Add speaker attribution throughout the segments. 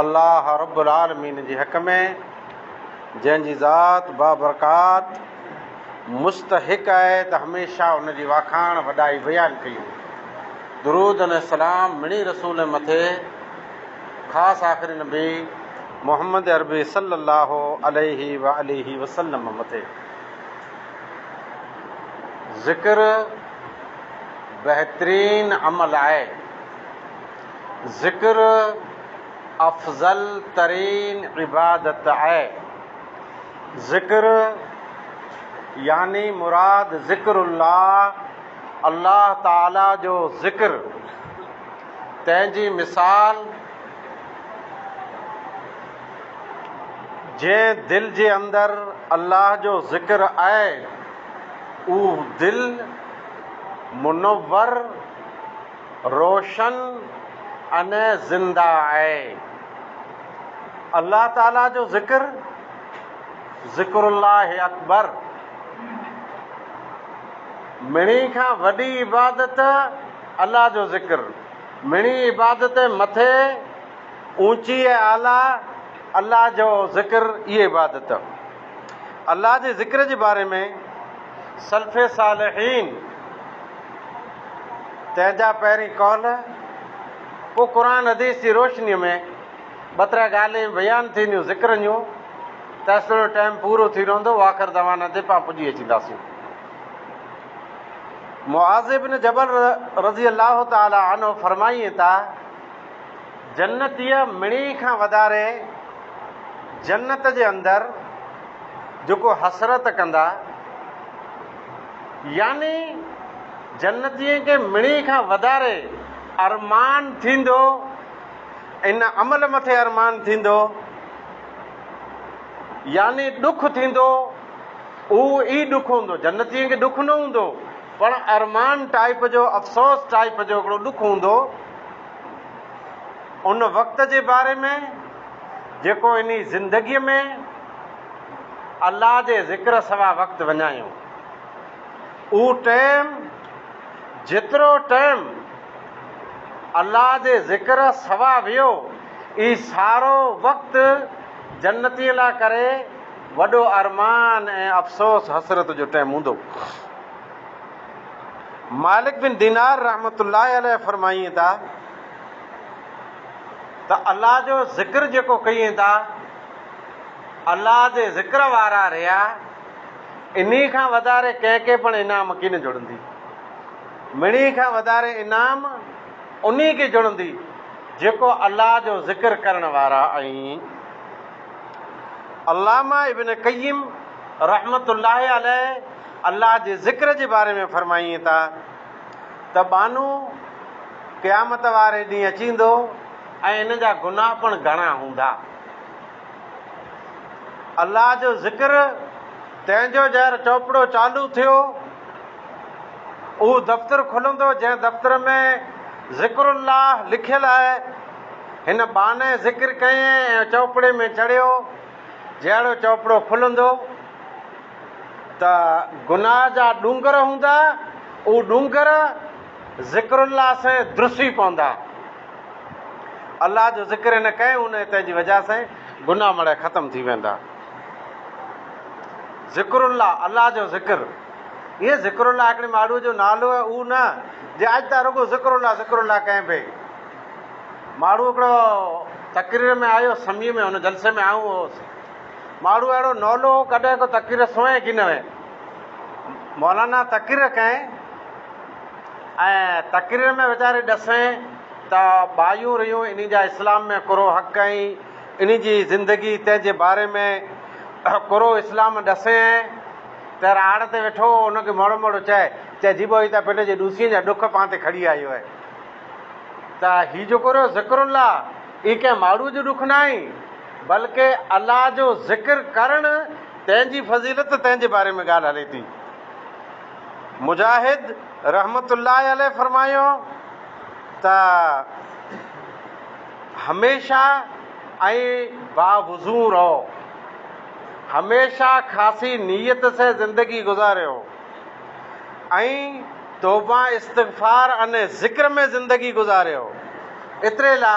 Speaker 1: الله رب العالمين جي حق ۾، جنهن جي ذات بابرڪات مستحق آهي ته هميشه ان جي واکاڻ، وڏائي بيان ڪيون. درود ۽ سلام مڙني رسول ۽ مٿي خاص آخري نبي محمد عربي صلّي الله عليه واٰله وسلّم مٿي. ذڪر بهترين عمل آهي. ذڪر افضل ترين عبادت آهي. ذڪر يعني مراد ذڪر الله، الله تعاليٰ جو ذڪر، تنهن جي مثال جنهن دل جي اندر الله جو ذڪر آهي اهو دل منور روشن ۽ زنده آهي. الله تعالي جو ذڪر، ذڪر الله اڪبر، مھڻي کان وڏي عبادت الله جو ذڪر، مھڻي عبادت مٿي اوچي ۽ اعليٰ الله جو ذڪر ئي عبادت. الله جي ذڪر جي باري ۾ سلف صالحين تنهن جا پهرين قول پوء قرآن حديث جي روشنيء ۾ ٻه ترا ڳالهين بيان ٿينديون ذڪرن جون تيستوڻي ٽائيم پورو ٿي رهندو واخر دعوانا تي پان پڄي اچينداسين معاذ بن جبل رضي الله تعالي عنه فرمائين ٿا جنتيء مڻي کان وڌاري جنت جي اندر جيڪو حسرت ڪندا، يعني جنتين کي مڻي کان وڌاري ارمان ٿيندو، ان عمل مٿي ارمان ٿيندو، يعني ڏک ٿيندو، اهو ئي ڏک هوندو، جنتين کي ڏک نه هوندو، پڻ ارمان ٽائيپ جو، افسوس ٽائيپ جو هڪڙو ڏک هوندو. ان وقت جي باري ۾ جيڪو انهي زندگيء ۾ الله جي ذڪر سوا وقت وڃايو. اهو ٽيم جيترو ٽيم الله جي ذڪر سوا ويو اهي سارو وقت جنتين لاء ڪري وڏو ارمان ۽ افسوس حسرت جو ٽيم هوندو. مالڪ بن دينار رحمة الله عليه فرمائين ٿا ته الله جو ذڪر جيڪو ڪيين ٿا، الله جي ذڪر وارا ريا، انهي کان وڌاري ڪنهن کي پڻ انعام ڪين جڙندي. مڙني کان وڌاري انعام انهي کي جڙندي جيڪو الله جو ذڪر ڪرڻ وارا آهين. علامه ابن قيم رحمة الله عليه الله جي ذڪر جي باري ۾ فرمائين ٿا ته ٻانهو قيامت واري ڏينهن اچيندو ۽ ان جا گناهه پڻ گهڻا هوندا. الله جو ذڪر تنهن جو جهر چوپڙو چالو ٿيو، اهو دفتر کلندو جنهن دفتر ۾ ذڪر الله لکيل آهي. هن ٻانهي ذڪر ڪيائين ۽ چوپڙي ۾ چڙهيو، جهڙو چوپڙو کلندو. ته گناهه جا ڏونگر هوندا، اهو ڏونگر ذڪر الله سين درسي پوندا. الله جو ذڪر هن ڪئين هن هتي جي وجه سين گناهه مڙئي ختم ٿي ويندا. ذڪر الله الله جو ذڪر ايئن ذڪر الله هڪڙي ماڙهوء جو نالو آهي اهو نه جي اڄ تان رڳو ذڪر الله ذڪر الله ڪئين پئي. ماڙهو هڪڙو تقرير ۾ آيو سمي ۾ هن جلسي ۾ آئون هوس. ماڙهو اهڙو نولو هو ڪڏهن ڪو تقرير سنوين ڪي نه هئي. مولانا تقرير ڪئين ۽ تقرير ۾ ويچاري ڏسين ته ٻايون رهيون انهي جا اسلام ۾ ڪورو حق ۽ انهي جي زندگي تنهن جي باري ۾ ڪورو اسلام ڏسين ۽ تير آڙ تي ويٺو هو ان کي موڙو موڙو چئي چئي جيبو هي ته پنهنجي جي ڏوسين جا ڏک پان تي کڙي آيو هي ته هي جيڪو رهيو ذڪر الله هي ڪنهن ماڙهو جو ڏک ناهي. بلڪه الله جو ذڪر ڪرڻ تنهن جي فضيلت تنهن جي باري ۾ ڳالهه هلي ٿي. مجاهد رحمة الله عليه فرمايو ته هميشه ائين با وضو رهو، هميشه خاصي نيت سين زندگي گذاريو ۽ توبه استغفار ۽ ذڪر ۾ زندگي گذاريو اتري لا.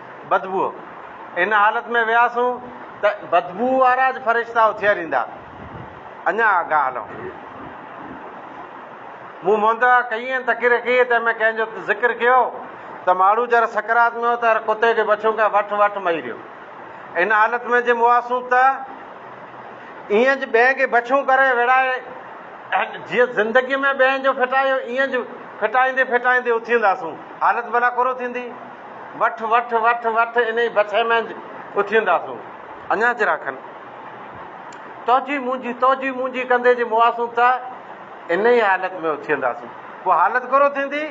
Speaker 1: بدبوء. ان حالت ۾ وياسون ته بدبوء وارا اڄ فرشتا اٿير ايندا. اڃا آگاهه هلون. مون مهندء ڪيئي ۽ تقرير ڪيئي تنهن ۾ ڪنهن جو ذڪر ڪيو ته ماڙهو جر سڪرات ۾ هو ته هر ڪتي کي بڇون ڪنهن وٺ وٺ مئي رهيو. ان حالت ۾ جي مواسون ته ايئن اڄ ٻين کي بڇون ڪري ويڙهائي جيئن زندگيء ۾ ٻين جو ڦٽايو ايئن اڄ ڦٽائيندي ڦٽائيندي اٿينداسون. حالت ڀلا ڪورو ٿيندي. وٺ وٺ وٺ وٺ انهي بڇي ۾ اٿينداسون. اڃا ذرا کن توجي منهنجي توجي منهنجي ڪندي جي مواسون ته انهي حالت ۾ اٿينداسون. پوء حالت گهرو ٿيندي.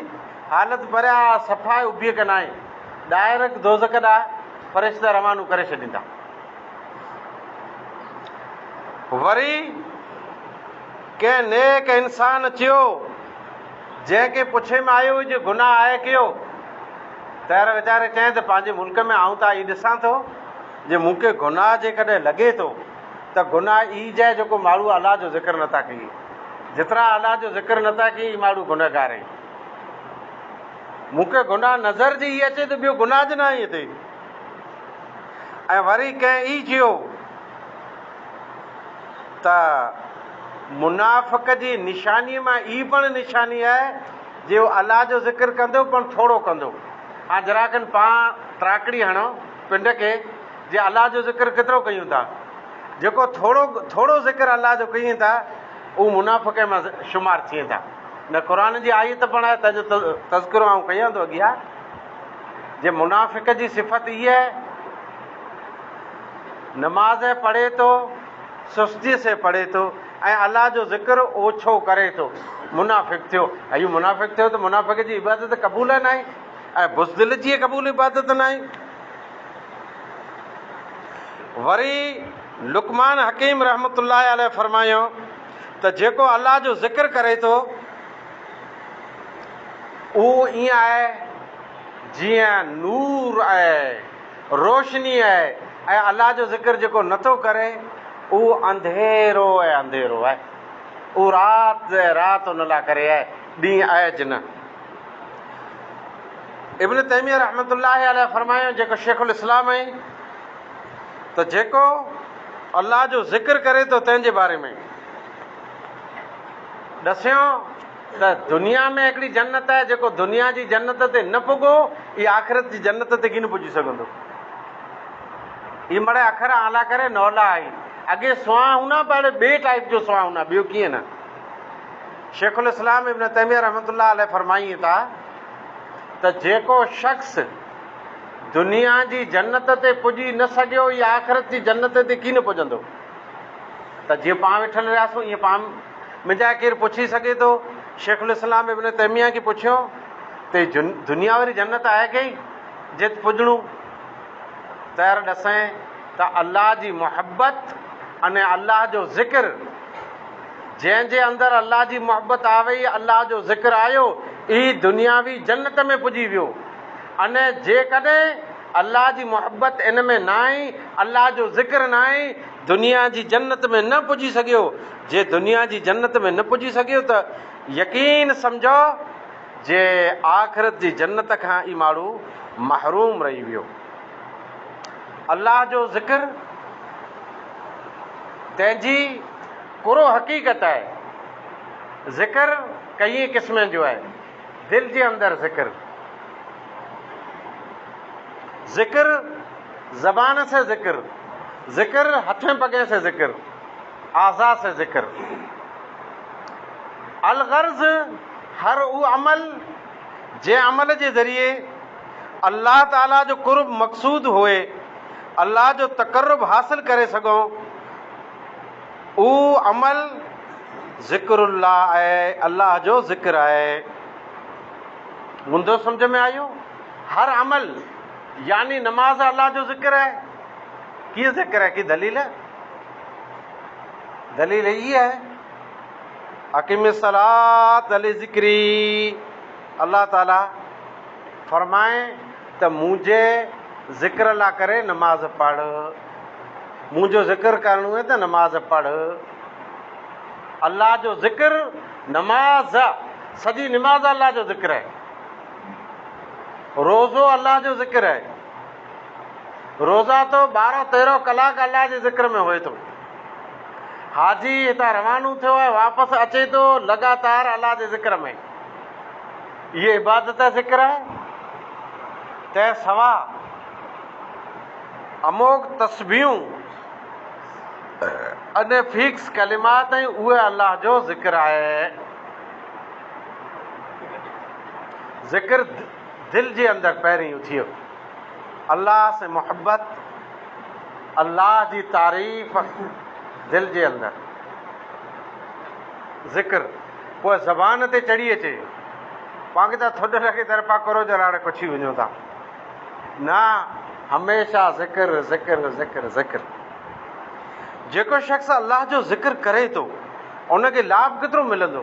Speaker 1: حالت پريا صفا ئي ابي ڪن آهين. ڊائرڪ دوزخ ڏانهن فرشته روانو ڪري ڇڏيندا. وري ڪنهن نيڪ انسان چيو. جنهن کي پڇي ۾ آيو جو گناهه آهي ڪيو؟ تهر ويچاري چيائين ته پنهنجي ملڪ ۾ آئون ته آئي ڏسان ٿو جي مون کي گناهه جيڪڏهن لڳي ٿو ته گناهه اي جي جيڪو ماڙهو الله جو ذڪر نه ٿا ڪيئي جيترا الله جو ذڪر نه ٿا ڪيئي ماڙهو گنهگار اهي مون کي گناهه نظر جي اي اچي ته ٻيو گناهه جي نه آئي اتي ۽ وري ڪنهن اي چيو ته منافق جي نشانيء مان ئي پڻ نشاني آهي جي هو الله جو ذڪر ڪندو پڻ ٿورو ڪندو. هاڻ ذرا کن پاڻ تراڪڙي هڻو پنڊ کي جي الله جو ذڪر ڪيترو ڪيون ٿا. جيڪو ٿورو ٿورو ذڪر الله جو ڪين ٿا هو منافقين مان شمار ٿين ٿا. نه قرآن جي آيت پڻ آهي تنهن جو تذڪرو آئون ڪيان ٿو اڳيان جي منافق جي صفت هيء آهي. نماز پڙهي ٿو، سستيء سين پڙهي ٿو ۽ الله جو ذڪر اوڇو ڪري ٿو، منافق ٿيو. اهو منافق ٿيو ته منافق جي عبادت قبول ناهي ۽ بزدل جي قبول عبادت ناهي. وري لقمان حڪيم رحمة الله عليه فرمايائون ته جيڪو الله جو ذڪر ڪري ٿو اهو ائين آهي جيئن نور ۽ روشني آهي ۽ الله جو ذڪر جيڪو نه ٿو ڪري اهو انڌيرو ۽ انڌيرو آهي. اهو رات ۽ رات ان لاء ڪري آهي، ڏينهن اهج نه. ابن تيميه رحمة الله عليه فرمايو جيڪو شيخ الاسلام آهي ته جيڪو الله جو ذڪر ڪري ٿو تنهن جي باري ۾ ڏسيو. ته دنيا ۾ هڪڙي جنت آهي، جيڪو دنيا جي جنت تي نه پڳو، اي آخرت جي جنت تي ڪين پڄي سگهندو. اي مڙئي اکر اعليٰ ڪري نولا آهي. اڳي سوانح هونا بهڙي ٻئي ٽائيپ جو سوانح هونا ٻيو ڪيئن نه. شيخ الاسلام ابن تيميه رحمة الله عليه فرمائين ٿا ته جيڪو شخص دنيا جي جنت تي پڄي نه سگهيو، اي آخرت جي جنت تي ڪين پڄندو. ته جيئن پاڻ ويٺل رهياسون، ايئن پاڻ منهنجا ڪير پڇي سگهي ٿو؟ شيخ الاسلام ابن تيميه کي پڇيو ته دنيا واري جنت آهي ڪهي جت پڄڻون تيار ڏسين ته الله جي محبت ۽ الله جو ذڪر جنهن جي اندر الله جي محبت آوئي الله جو ذڪر آيو اهي دنياوي جنت ۾ پڄي ويو ۽ جيڪڏهن الله جي محبت ان ۾ ناهي الله جو ذڪر ناهي دنيا جي جنت ۾ نه پڄي سگهيو جي دنيا جي جنت ۾ نه پڄي سگهيو ته يقين سمجهو جي آخرت جي جنت کان ئي ماڻهو محروم رهي ويو. الله جو ذڪر تنهن جي ڪرو حقيقت آهي. ذڪر ڪئين قسمن جو آهي. دل جي اندر ذڪر. ذڪر زبان سين ذڪر. ذڪر هٿين پڳين سين ذڪر. اعضاء سي ذکر الغرض هر اهو عمل جنهن عمل جي ذريعي الله تعالي جو قرب مقصود هئي الله جو تقرب حاصل ڪري سگهون اهو عمل ذڪر الله آهي الله جو ذڪر آهي مندو سمجھ ۾ آيو هر عمل يعني نماز الله جو ذڪر آهي ڪي ذڪر آهي ڪي دليل دليل هي آهي، اقم الصلاة لذڪري، الله تعالي فرمائي ته منهنجي ذڪر لا ڪري نماز پڙهه، منهنجو ذڪر ڪرڻو هي ته نماز پڙهه، الله جو ذڪر نماز، سڄي نماز الله جو ذڪر آهي، روزو الله جو ذڪر آهي. روزا تو ٻارهن تيرهن ڪلاڪ الله جي ذڪر ۾ هئي ٿو. حاجي هتان روانو ٿيو ۽ واپس اچي ٿو لڳاتار الله جي ذڪر ۾ اهي عبادت ۽ ذڪر آهي. تنهن سواء اموگ تسبيحون اني فيڪس ڪلمات ۽ اهي الله جو ذڪر آهي. ذڪر. دل جي اندر پهرين اٿيو الله سين محبت الله جي تعريف دل جي اندر ذڪر پوء زبان تي چڙهي اچي پانکي ته ٿڏ لڳي در پا ڪرو جراڙي پڇي وڃو ٿا نه هميشه ذڪر ذڪر ذڪر ذڪر جيڪو شخص الله جو ذڪر ڪري ٿو ان کي لاڀ ڪيترو ملندو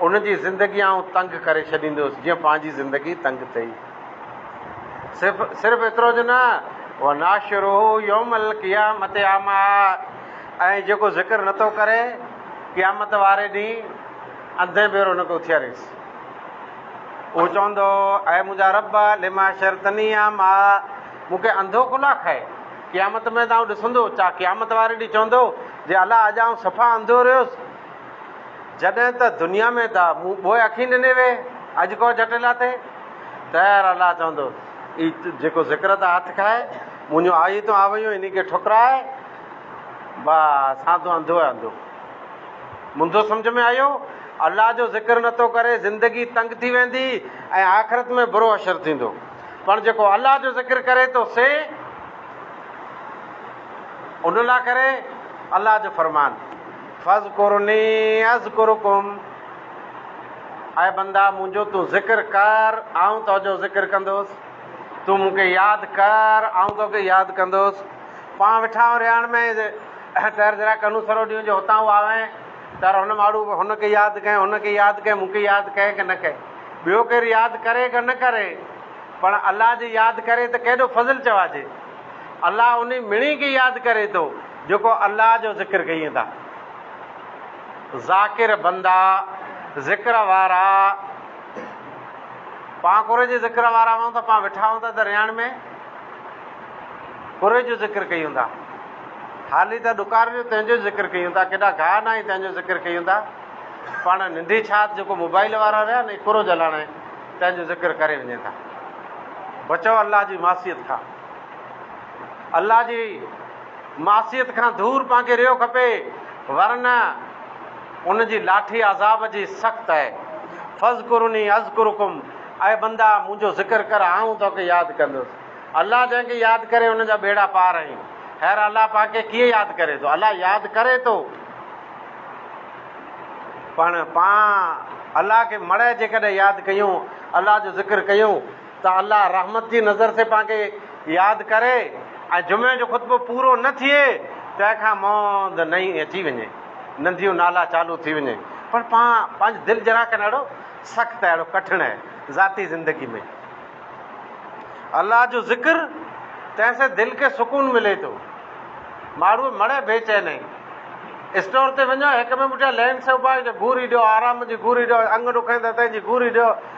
Speaker 1: ان جي زندگي آئون تنگ ڪري ڇڏيندي هيس جيئن پنهنجي زندگي تنگ ٿئي. صرف صرف ايترو جو نه، وناشره يوم القيامت اعميٰ ۽ جيڪو ذڪر نه ٿو ڪري، قيامت واري ڏينهن انڌين ڀيرو ان کي اٿياريس. اهو چوندو، اي منهنجا رب! لما حشرتني اعميٰ، مون کي انڌو ڪو لاء کائي؟ قيامت ۾ ته آئون ڏسندو، ڇا قيامت واري ڏينهن چوندو، جي الا اڄ آئون صفا انڌو رهيس؟ جڏهن ته دنيا ۾ ته مون ٻوهه اکين ڏني وي، اڄ ڪو جٽل اٿئي؟ طير الله چوندو، اي جيڪو ذڪر ته هٿ کائي، منهنجون آيتون آويون انهي کي ٺڪرائي، با سان تون انڌو ئي انڌو. منهنجو سمجهه ۾ آيو، الله جو ذڪر نه ٿو ڪري، زندگي تنگ ٿي ويندي ۽ آخرت ۾ برو حشر ٿيندو، پر جيڪو الله جو ذڪر ڪري ٿو سي ان لا ڪري الله جو فرمان. فاذڪروني اذڪرڪم اي بندا منهنجو تون ذڪر ڪر آئون تنهنجو ذڪر ڪندس، تون مون کي ياد ڪر آئون توکي ياد ڪندس، پان ويٺا آهيون رهاڻ ۾ تر ذرا ڪنون سرو ڏيون جو هتان هو آوين تر هن ماڙو هن کي ياد ڪئين هن کي ياد ڪئين مون کي ياد ڪئين ڪه نه ڪئين ٻيو ڪير ياد ڪري ڪه نه ڪري پڻ الله جي ياد ڪري ته ڪيڏو فضل چوائجي الله انهي مڻي کي ياد ڪري ٿو. جيڪو الله جو ذڪر ڪيين ٿا. ذاڪر بندا، ذڪر وارا، پان قري جي ذڪر وارا هئون ٿا، پان ويٺا هئون ٿا درياڻ ۾، قري جو ذڪر ڪيون ٿا، هالي ٿا ڏڪار جو تنهن جو ذڪر ڪيون ٿا، ڪيڏا گاهه ناهي تنهن جو ذڪر ڪيون ٿا، پاڻ ننڍي ڇات جيڪو موبائيل وارا رهيا نه قرو جلاڻي تنهن جو ذڪر ڪري وڃين ٿا. بچو الله جي معصيت کان. الله جي معصيت کان دور پنهنکي رهيو کپي ورنه ان جي لاٺي عذاب جي سخت اهي. فاذڪروني اذڪرڪم اي بندا منهنجو ذڪر ڪر آئون توکي ياد ڪندس. الله جنهن کي ياد ڪري ان جا ٻيڙا پار اهي. خير الله پاڪ کي ڪيئن ياد ڪري ٿو؟ الله ياد ڪري ٿو پڻ پان الله کي مڙهي جيڪڏهن ياد ڪيون الله جو ذڪر ڪيون. ته الله رحمت جي نظر سين پان کي ياد ڪري ۽ جمعي جو خطبو پورو نه ٿئي تنهن کان موند نئين اچي وڃي ننڌيون نالا چالو ٿي وڃي پر پان پنهنجي دل جرا کن اهڙو سخت اهڙو ڪٺڻ اهي ذاتي زندگي ۾ الله جو ذڪر تنهن سين دل کي سڪون ملي ٿو ماڙو مڙي بي چين اهي اسٽور تي وڃو هڪ ٻئي پٺيان لين سي اوبا جو گوري ڏيو آرام جي گوري ڏيو انگ ڏکائين ته تنهن جي گوري ڏيو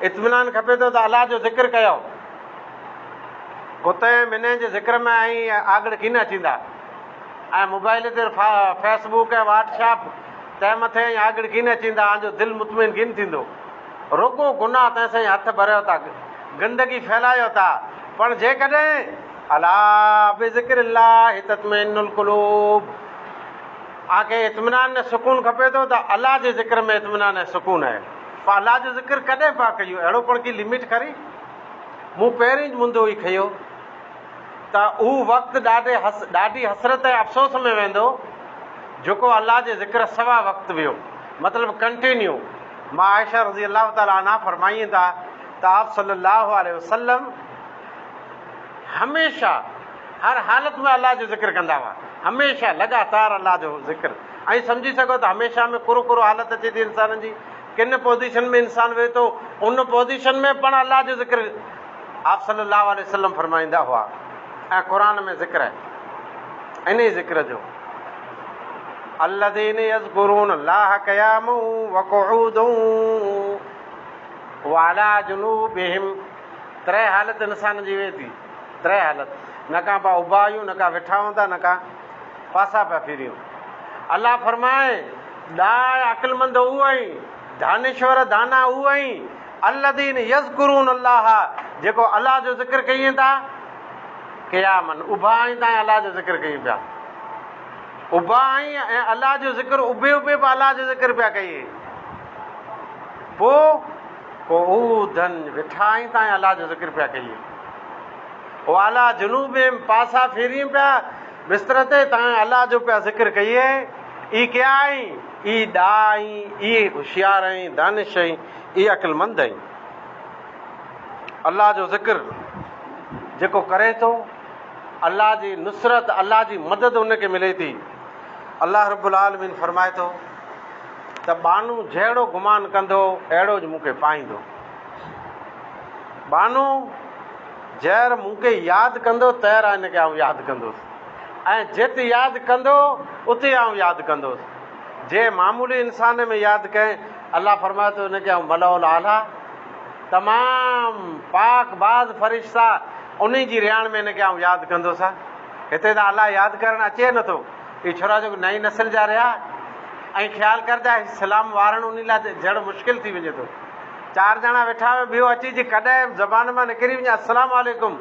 Speaker 1: اطمينان کپي ٿو ته الله جو ذڪر ڪيو ڪتئ منھن جي ذڪر ۾ ائين آڳڙ ڪين اچيندا ۽ موبائيل تي فيس بوڪ ۽ واٽ شاپ تنھن مٿي ائين آڳڙ ڪين اچيندا آن جو دل مطمئن ڪين ٿيندو رڳو گناھ تنھن سائين ھٿ ڀريو ٿا گندگي ڦھلايو ٿا پڻ جيڪڏھن الا بذڪر الله تطمئن القلوب اوھان کي اطمينان ۽ سڪون کپي ٿو ته الله جي ذڪر ۾ اطمينان ۽ سڪون اھي. فعلا جو ذڪر ڪڏهن پيا ڪيو اهڙو پڻ ڪي لميٽ کري مون پهرين ئي منڌيو ئي کيو ته اهو وقت ڏاڍي حس ڏاڍي حسرت ۽ افسوس ۾ ويندو جيڪو الله جي ذڪر سوا وقت ويو مطلب ڪنٽينيو ماء عائشه رضي الله تعالٰي عنها فرمائين ٿا ته آپ صلي الله عليه وسلم هميشه هر حالت ۾ الله جو ذڪر ڪندا هئا هميشه لڳاتار الله جو ذڪر ائين سمجهي سگهو ته هميشه ۾ ڪرو ڪرو حالت اچي ٿي انسانن جي. ڪن پوزيشن ۾ انسان ويهي ٿو ان پوزيشن ۾ پڻ الله جو ذڪر آپ صلي الله عليه وسلم فرمائيندا هئا ۽ قرآن ۾ ذڪر آهي انهي ذڪر جو الذين يذكرون الله قياما وقعودا وعلى جنوبهم تري حالت انسان جي ويهي ٿي. تري حالت، نه ڪا پيا اڀا آهيون، نه ڪا ويٺا هوندا، نه ڪا پاسا پيا ڦيريون. الله فرمائي، ڏاهه عقلمند هو ۽ دانشور، دانا، هو ۽، الذين يذڪرون الله، جيڪو الله جو ذڪر ڪين ٿا، قياما، اڀا آهين تائين الله جو ذڪر ڪين پيا. اڀا آهين ۽ الله جو ذڪر، اڀي اڀي به الله جو ذڪر پيا ڪين. پوء. پوء هو ڌن وٺا ۽ تانء الله جو ذڪر پيا ڪين. وعليٰ جنوبهم پاسا ڦيرين پيا بستر تي تانء الله جو پيا ذڪر ڪين. اي ڪيا آهين؟ اي ڏاها آهين؟ اي هوشيار آهين، دانش آهين، اي عقلمند آهين؟ الله جو ذڪر جيڪو ڪري ٿو الله جي نصرت الله جي مدد ان کي ملي ٿي. الله رب العالمين فرمائي ٿو. ته ٻانهو جهڙو گمان ڪندو، اهڙو ئي مون کي پائيندو. ٻانهو جهر مون کي ياد ڪندو، تهڙا هن کي آئون ياد ڪندس ۽ جت ياد ڪندو، اتي آئون ياد ڪندس. جي معمولي انسان ۾ ياد ڪئين، الله فرمائي ٿو، ان کي آئون ملأ الاعليٰ، تمام پاڪ باز فرشتا، انهي جي رهاڻ ۾ هن کي آئون ياد ڪندس. هتي ته الله ياد ڪرڻ اچي نٿو. اهي ڇورا جيڪو نئين نسل جا رهيا ائين خيال ڪر ته هي سلام وارڻ انهي لاء جهڙو مشڪل ٿي وڃي ٿو. چار ڄڻا ويٺا هئا ٻيو اچي جي ڪڏهن زبان مان نڪري وڃي السلام عليڪم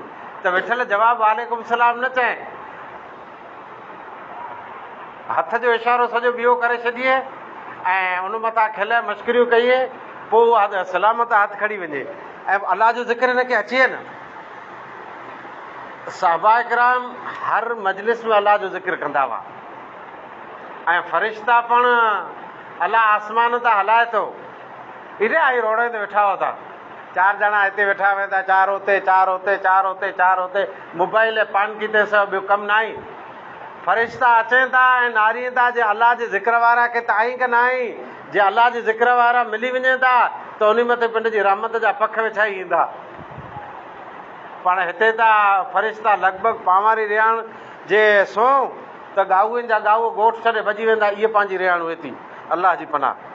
Speaker 1: ته ويٺل جواب وعليڪم السلام نه چئين هٿ جو اشارو سڄو ٻيو ڪري ڇڏيئي ۽ ان مٿان کل مشڪريون ڪيئي پوء اها سلامت هٿ کڻي وڃي ۽ الله جو ذڪر هن کي اچيئي نه. صحابه ڪرام هر مجلس ۾ الله جو ذڪر ڪندا هئا ۽ فرشتا پڻ الله آسمان تان هلائي ٿو ايڏا هي روڙين تي ويٺا هئا ٿا چار ڄڻا هتي ويٺا ويندا چار هتي چار هتي چار هتي چار هتي موبائل ۽ پان کي تي سو ٻيو ڪم ناهي فرشتا اچين ٿا ۽ نارين ٿا جي الله جي ذڪر وارا کي ته آئين ڪه ناهي جي الله جي ذڪر وارا ملي وڃين ٿا ته انهي مٿي پنڊ جي رحمت جا پک وڇائي ايندا پڻ هتي ته فرشتا لڳ ڀڳ پانواري رهاڻ جي سونهن ته ڳائوين جا ڳائو ڳوٺ ڇڏي ڀڄي ويندا اهي پنهنجي رهاڻ ويتي الله جي پناهه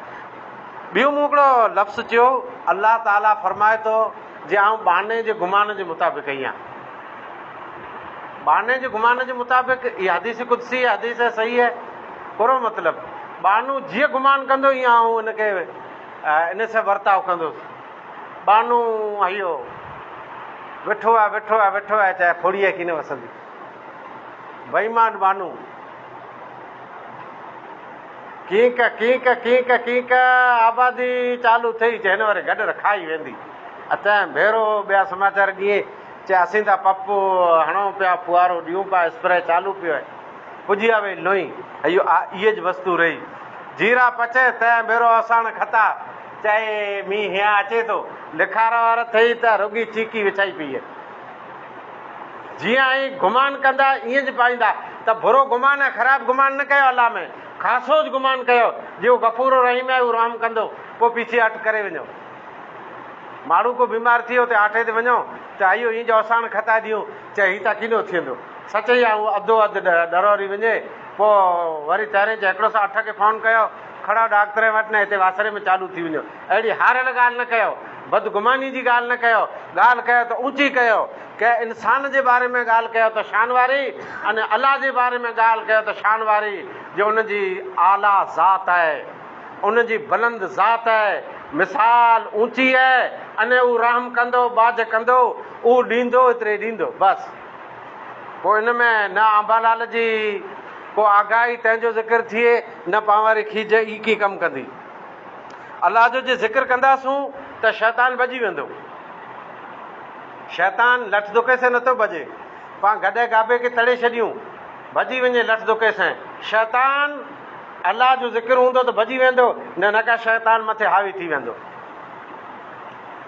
Speaker 1: ڏيو مون هڪڙو لفظ چيو الله تعالي فرمائي ٿو جي آئون ٻانهي جي گمان جي مطابق ايان ٻانهي جي گمان جي مطابق اها حديث قدسي هي حديث هي صحيح هي پورو مطلب ٻانهو جيئن گمان ڪندو ايئن آئون ان کي ان سان ورتاء ڪندس ٻانهو هيو، وٺو آء، وٺو آء، وٺو آء، چاهي ڦوڙي آء ڪين وسندي. بيمان ٻانهو، ڪينڪ، ڪينڪ، ڪينڪ، ڪينڪ، آبادي چالو ٿئي، چي هن وري گڏر کائي ويندي. اتهائين ڀيرو ٻيا سماچار ڏيئي، چي اسين ته پپ هڻون پيا، ڦوهارو ڏيون پيا، اسپري چالو پيو هي. پڄي آ وئي لونئين، هيو آء ايج وستو رهي. جيرا پچي، تهائين ڀيرو اوساڻ کتا. چئي، مينهن هيان اچي ٿو. لکار وار ٿئي ته رڳي چيڪي وڇائي پيئي. جيئن ائين گمان ڪندا ائين ج پائيندا ته برو گمان ۽ خراب گمان نه ڪيو الله ۾ خاصوج گمان ڪيو جي هو غفور و رحيم آهي هو رحم ڪندو پوء پيڇي هٽ ڪري وڃو. ماڻهو ڪو بيمار ٿئي اتي آٺي تي وڃو چه اهيو ايئن ج اوساڻ کتائي ڏيون چه هي تا ڪينو ٿيندو سچ اهي آهي هو اڌو اڌ ڏروري وڃي پوء وري تهرين چه هڪڙو سو اٺ کي فون ڪيو کڙا ڏاڪ ترين وٽ نه هتي واسري ۾ چاڏو ٿي وڃو. اهڙي هاريل ڳالهه نه ڪيو. بدگماني جي ڳالهه نه ڪيو. ڳالهه ڪيو ته اوچي ڪيو. ڪنهن انسان جي باري ۾ ڳالهه ڪيو ته شان واري ۽ الله جي باري ۾ ڳالهه ڪيو ته شان واري جو ان جي اعليٰ ذات آهي. ان جي بلند ذات آهي. مثال اوچي آهي. ۽ هو رحم ڪندو، ٻاجهه ڪندو. اهو ڏيندو، ايتري ڏيندو. بس. پوء ان ۾ نه آنبالال جي ڪو آگاهي تنهن جو ذڪر ٿئي نه پانواري کيج ئي ڪي ڪم ڪندي. الله جو جي ذڪر ڪنداسون ته شيطان ڀڄي ويندو. شيطان لٺ دڪي سين نٿو ڀڄي. پان گڏهه گابي کي تڙي ڇڏيون ڀڄي وڃي لٺ دڪي سين. شيطان الله جو ذڪر هوندو ته ڀڄي ويندو نه نه ڪا شيطان مٿي حاوي ٿي ويندو.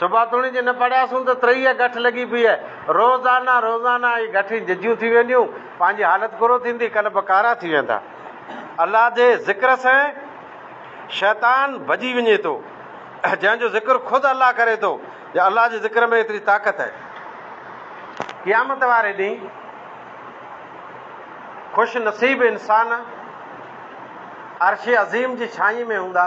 Speaker 1: صبح توڻي جي نه پڙهياسون ته ترهيء گٺ لڳي پيئي آهي. روزانه روزانه اهي گٺيون ججيون ٿي وينديون، پنهنجي حالت ڪرو ٿيندي، قلب ڪارا ٿي ويندا. الله جي ذڪر سين شيطان ڀڄي وڃي ٿو. جنهن جو ذڪر خود الله ڪري ٿو جو الله جي ذڪر ۾ ايتري طاقت آهي. قيامت واري ڏينهن خوش نصيب انسان عرش عظيم جي ڇانئين ۾ هوندا.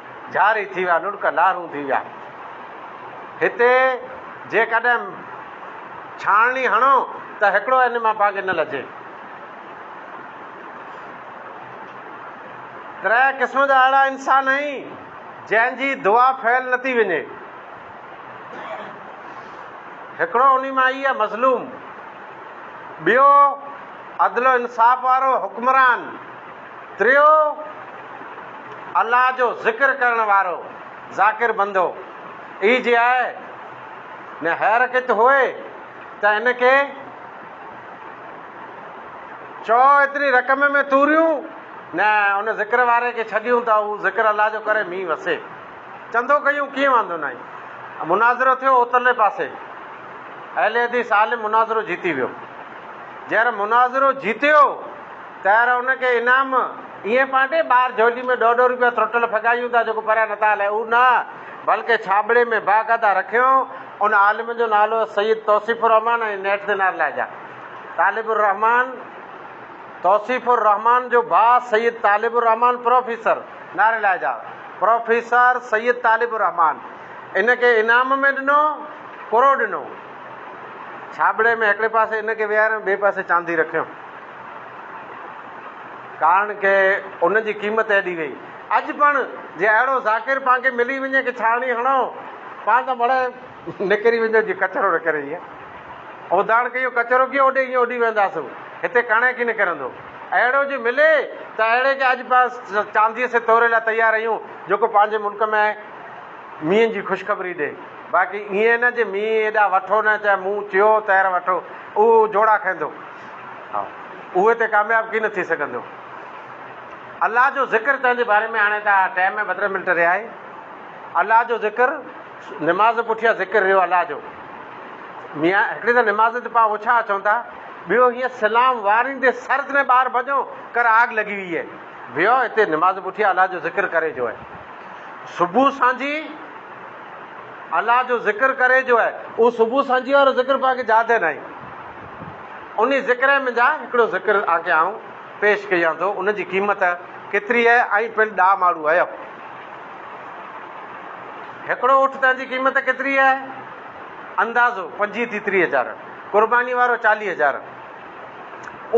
Speaker 1: جاري ٿي ويا، لڙڪ لارون ٿي ويا. هتي جيڪڏهن ڇاڻڻي هڻو ته هڪڙو ان مان باقي نه لجي. ترهه قسم جا اهڙا انسان آهين جنهن جي دعا فعل نه ٿي وڃي. هڪڙو انهي مان هي مظلوم، ٻيو عدل و انصاف وارو حڪمران، تريو، الله جو ذڪر ڪرڻ وارو ذاڪر بندو ئي جي آهي، نه حيرڪيت هئي ته هن کي چئو ايتري رقم ۾ توريون، نه ان ذڪر واري کي ڇڏيون ته هو ذڪر الله جو ڪري مينهن وسي. چندو ڪيون ڪيئن واندو ناهي. مناظرو ٿيو اوترلي پاسي اهل حديث عالم مناظرو جيتي ويو. جنهن مناظرو جيتيو. تيار ان کي انعام ائين پانٽي ٻاهر جهولي ۾ ڏهه ڏهه روپيا ٿروٽل ڦڳايون ٿا جيڪو پريان نه ٿا هلائي اهو نه بلڪه ڇاٻڙي ۾ باقاعده رکيائون ان عالم جو نالو سيد توصيف الرحمان ۽ نيٺ تي نارلا جا طالب الرحمان توصيف الرحمان جو ڀاء سيد طالب الرحمان پروفيسر نارلا جا پروفيسر سيد طالب الرحمان ان کي انعام ۾ ڏنو ڪرو ڏنو ڇاٻڙي ۾ هڪڙي پاسي ان کي ويهاريو ٻئي پاسي چاندي رکيو ڪارڻ ڪي ان جي قيمت ايڏي ويئي. اڄ پڻ جي اهڙو ذاڪر پان کي ملي وڃي ڪي ڇاڻي هڻو پان ته مڙهي نڪري ويندو جي ڪچرو نه ڪري ايئن اوڌاڻ ڪيو ڪچرو ڪيو اوڏي ايئن اڏي وينداسون هتي ڪڻي ڪي نه ڪرندو اهڙو جي ملي ته اهڙي کي اڄ پان چانديء سي توري لاء تيار ايون جيڪو پنهنجي ملڪ ۾ مينهن جي خوشخبري ڏي باقي ايئن نه جي مينهن ايڏا وٺو نه چي مون چيو تهر وٺو اهو جوڙا کيندو. اهي تي ڪامياب ڪين ٿي سگهندو. الله جو ذڪر تنهنجي باري ۾ هاڻي ته ٽي ۾ ٻٽري منٽ رهيا آهي. الله جو ذڪر نماز پٺيان ذڪر رهيو الله جو. ميان هڪڙي ته نماز تي پاء اوڇا اچون ٿا ٻيو هيئن سلام واريندي سر تنهن ٻاهر ڀڄو ڪر آگ لڳي وئي آهي ويو هتي نماز پٺيان الله جو ذڪر ڪري جو آهي صبح سانجهي الله جو ذڪر ڪري جو اي اهو صبح سانجهيء وارو ذڪر پوء آنکي جاء تي ناهي. انهي ذڪر ۾ جا هڪڙو ذڪر آنکي آئون پيش ڪيان ٿو ان جي قيمت ڪيتري اي ۽ پڻ ڏا ماڙو اي. هڪڙو اٺ تان جي قيمت ڪيتري اي؟ اندازو پنجيهه ٿي ٽيهه هزار. قرباني وارو چاليهه هزار.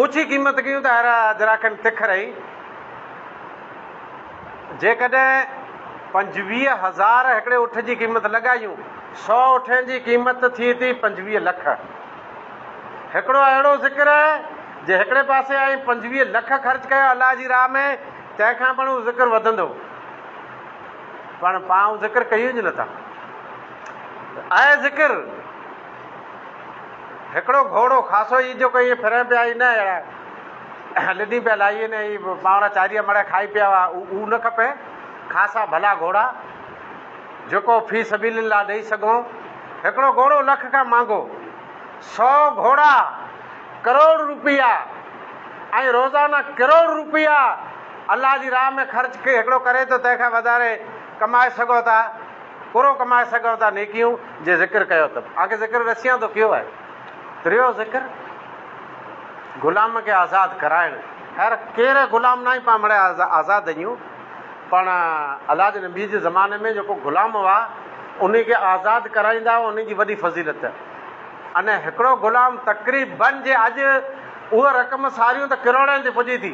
Speaker 1: اوڇي قيمت ڪيون ته هر هدراکن تک رهي. جيڪڏهن پنجويهه هزار هڪڙي اٺ جي قيمت لڳايون، سؤ اٺين جي قيمت ٿئي ٿي پنجويهه لک. هڪڙو اهڙو ذڪر جي هڪڙي پاسي آئين پنجويهه لک خرچ ڪيا الله جي راهه ۾، تنهن کان پڻ اهو ذڪر وڌندو. پڻ پان اهو ذڪر ڪيون ئي نٿا. اهي ذڪر هڪڙو گهوڙو خاصو ئي جو ڪو ائين ڦرين پيا ئي نه اهڙا. لڏي پيا لاهي ۽ هي پاڻ چاريء مڙهه کائي پيا هئا. اهو نه کپي. خاصا ڀلا گهوڙا، جيڪو في سبيل الله ڏئي سگهون. هڪڙو گهوڙو لک کان مهانگو. سؤ گهوڙا، ڪروڙ روپيا ۽ روزانه ڪروڙ روپيا الله جي راهه ۾ خرچ هڪڙو ڪري ٿو، تنهن کان وڌاري ڪمائي سگهو ٿا. ڪروڙ ڪمائي سگهون ٿا. نيڪيون جي ذڪر ڪيو اٿم. اوهان کي ذڪر رسيان ٿو ڪيو آهي. ٽيون ذڪر، غلام کي آزاد ڪرائڻ. خير ڪير غلام ناهي پاڻ مڙئي آزاد اهيون پاڻ الله جي نبي جي زماني ۾ جيڪو غلام هئا انهي کي آزاد ڪرائيندا هئا انهي جي وڏي فضيلت ان هڪڙو غلام تقريبن جي اڄ اهو رقم ساريون ته ڪروڙين تي پڄي ٿي.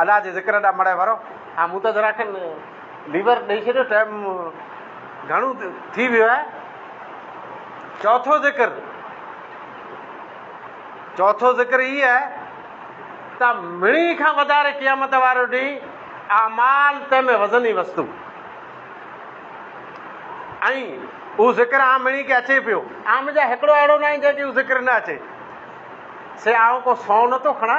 Speaker 1: الله جي ذڪر ڏانهن مڙهي ورو. ها مون ته ذرا کن ليور ڏئي ڇڏيو ٽيم گهڻو ٿي ويو آهي چوٿون ذڪر چوٿون ذڪر هي آهي ته مڙهي کان وڌاري قيامت وارو ڏينهن اعمال تنهن ۾ وزني وستو ۽ اهو ذڪر آ مڙهي کي اچي پيو آ مجا هڪڙو اهڙو ناهي جنهن کي اهو ذڪر نه اچي سي آئون ڪو سون نه ٿو کڻا.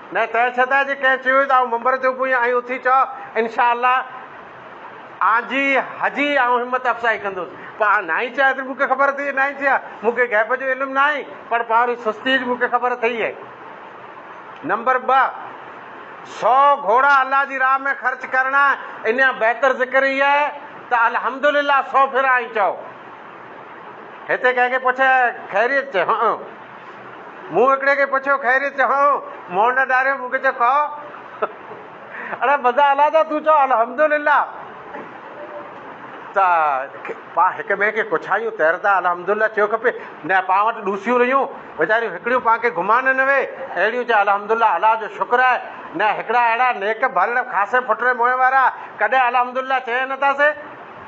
Speaker 1: نه تنهن سدا جي ڪنهن چيو ته آئون منبر تي اڀوين ۽ اٿي چئو انشاء الله آن جي هجي آئون همت افزائي ڪندس پر آن ناهين چيا ايتري مون کي خبر اٿئي ناهين چيا مون کي غيب جو علم ناهي پر پنهري سستي جي مون کي خبر اٿئي اهي نمبر ٻه سو گهوڙا الله جي راهه ۾ خرچ ڪرڻا انيان بهتر ذڪر هي آهي ته الحمدلله سو ڦيرا آئين چئو هتي ڪنهن کي پڇ خيريت چئه مون هڪڙي کي پڇيو خيريت چئو منهن نه ڏاريو مون کي چئو ڪئو اڙي مزا الا ٿا تون چئو الحمدلله ته پا هڪ ٻئي کي ڪڇايون تيردا الحمدلله چيو کپي نه پا وٽ ڏوسيون رهيون ويچاريون هڪڙيون پا کي گهمان نه وي اهڙيون چئي الحمدلله الا جو شڪر آهي نه هڪڙا اهڙا نيڪ ڀل خاصي ڦٽري موهين وارا ڪڏهن الحمدلله چئي نه ٿا سي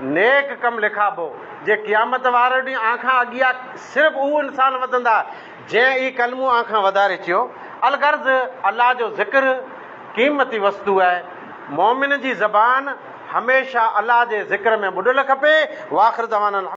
Speaker 1: نيڪ ڪم لکابو، جي قيامت واري ڏينهن آء کان اڳيا صرف اهو انسان وڌندا، جنهن اي ڪلمو آء کان وڌاري چيو. الغرض الله جو ذڪر قيمتي وستو آهي. مؤمن جي زبان هميشه الله جي ذڪر ۾ ٻڏل کپي. واخر دعوانا الحمد.